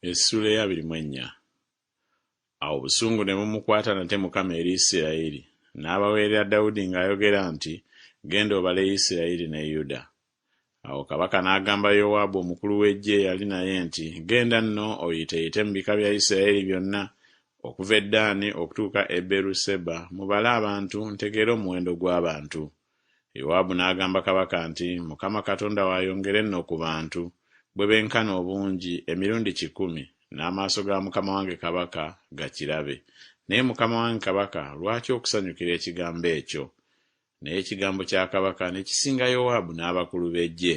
Essuula eyabiri mu ennya. Awo obusungu ne bumukwata nate Mukama eri Isirayiri, n'abaweerera Dawudi ng'ayogera nti, Genda obale Isirayiri ne Yuda. Awo kabaka n'agamba Yowaabu omukulu w'eggye eyali naye nti, Genda nno oyiteeyite mu bika bya Isirayiri byonna, okuva e Ddaani okutuuka e Beeru-seba, mubale abantu, ntegeere omuwendo gw'abantu. Yowaabu n'agamba kabaka nti, Mukama Katonda wo ayongere nno ku bantu, bwe benkana obungi, emirundi kikumi, n'amaaso ga mukama wange kabaka gakirabe. Naye mukama wange kabaka lwaki okusanyukira ekigambo ekyo? Naye ekigambo kya kabaka ne kisinga Yowaabu n'abakulu b'eggye.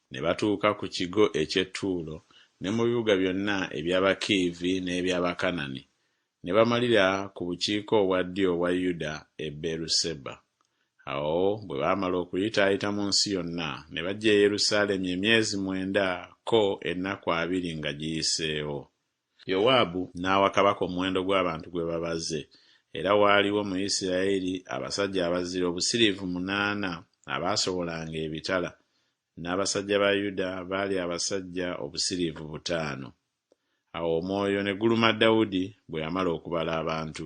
Ne batuuka ku kigo eky'e Tuulo, ne mu bibuga byonna eby'Abakiivi n'eby'Abakanani, ne bamalira ku bukiika obwa ddyo obwa Yuda e Beeruseba. Awo bwe baamala okuyitaayita mu nsi yonna, ne bajja e Yerusaalemi emyezi mwenda ko ennaku abiri nga giyiseewo. Yowaabu n'awa kabaka omuwendo gw'abantu gwe babaze, era waaliwo mu Yisirayeli abasajja abazira obusiriivu munaana abaasobolanga ebitala, n'abasajja ba Yuda baali abasajja obusiriivu butaano. Awo omwoyo ne guluma Dawudi bwe yamala okubala abantu.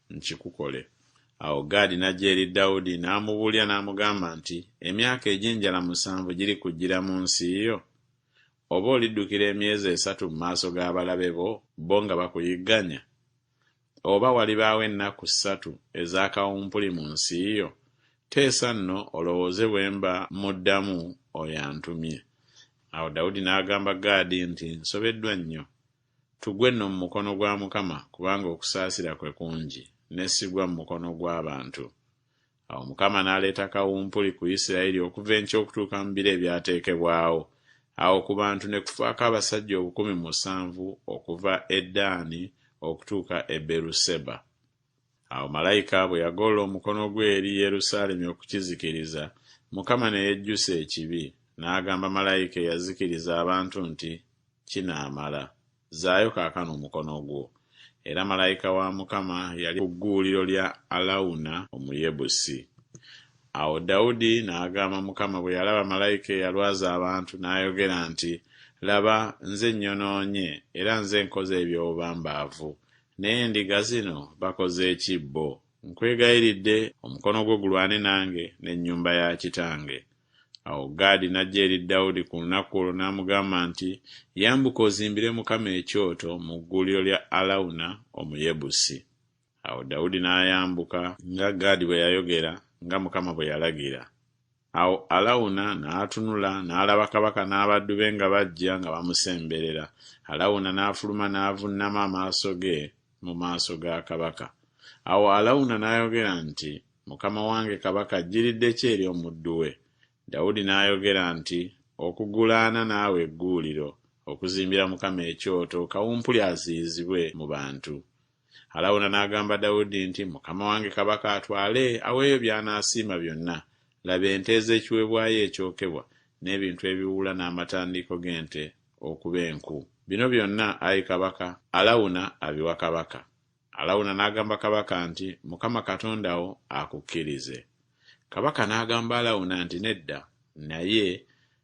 nkikukole. Awo Gaadi n'ajja eri Dawudi n'amubuulira n'amugamba nti, Emyaka egy'enjala musanvu girikujjira mu nsi yo? Oba oliddukira emyezi esatu mu maaso g'abalabe bo, bo nga bakuyigganya? Oba walibaawo ennaku ssatu eza kawumpuli mu nsi yo? Teesa nno olowooze bwe mba mmuddamu oyo antumye. Awo Dawudi n'agamba Gaadi nti, Nsobeddwa nnyo. Tugwe nno mu mukono gwa Mukama kubanga okusaasira kwe kungi, ne sigwa mu mukono gw'abantu. Awo Mukama n'aleeta kawumpuli ku Yisirayeli okuva enkya okutuuka mu biro ebyateekebwawo. Awo ku bantu ne kufaako abasajja obukumi musanvu okuva e Daani okutuuka e Beeruseba. Awo malayika bwe yagoola omukono gwe eri Yerusaalemi okukizikiriza, Mukama ne yejjusa ekibi, n'agamba malayika eyazikiriza abantu nti, Kinaamala. Zzaayo kaakano omukono gwo. Era malayika wa Mukama yali ku gguuliro lya Alawuna Omuyebusi. Awo Dawudi n'agamba Mukama bwe yalaba malayika eyalwaza abantu, n'ayogera nti, Laba, nze nnyonoonye, era nze nkoze eby'obubambaavu, Naye endiga zino bakoze ki bo? Nkwegayiridde, omukono gwo gulwane nange n'ennyumba ya kitange. Awo Gaadi n'ajja eri Dawudi ku lunaku olwo n'amugamba nti, Yambuka ozimbire Mukama ekyoto mu gguuliro lya Alawuna Omuyebusi. Awo Dawudi n'ayambuka, nga Gaadi bwe yayogera, nga Mukama bwe yalagira. Awo Alawuna n'atunula n'alaba kabaka n'abaddu be nga bajja nga bamusemberera. Alawuna n'afuluma n'avunnama amaaso ge mu maaso ga kabaka. Awo Alawuna n'ayogera nti, Mukama wange kabaka ajjiridde ki eri omuddu we? Dawudi n'ayogera nti, Okugulaana naawe egguuliro, okuzimbira Mukama ekyoto, kawumpuli aziyizibwe mu bantu. Alawuna n'agamba Dawudi nti, Mukama wange kabaka atwale aweeyo by'anaasiima byonna, laba ente ez'ekiweebwayo ekyokebwa, n'ebintu ebiwuula n'amatandiiko g'ente okuba enku. Bino byonna, ayi kabaka, Alawuna abiwa kabaka. Alawuna n'agamba kabaka nti, Mukama Katonda wo akukkirize. Kabaka n'agamba Alawuna nti, Nedda, naye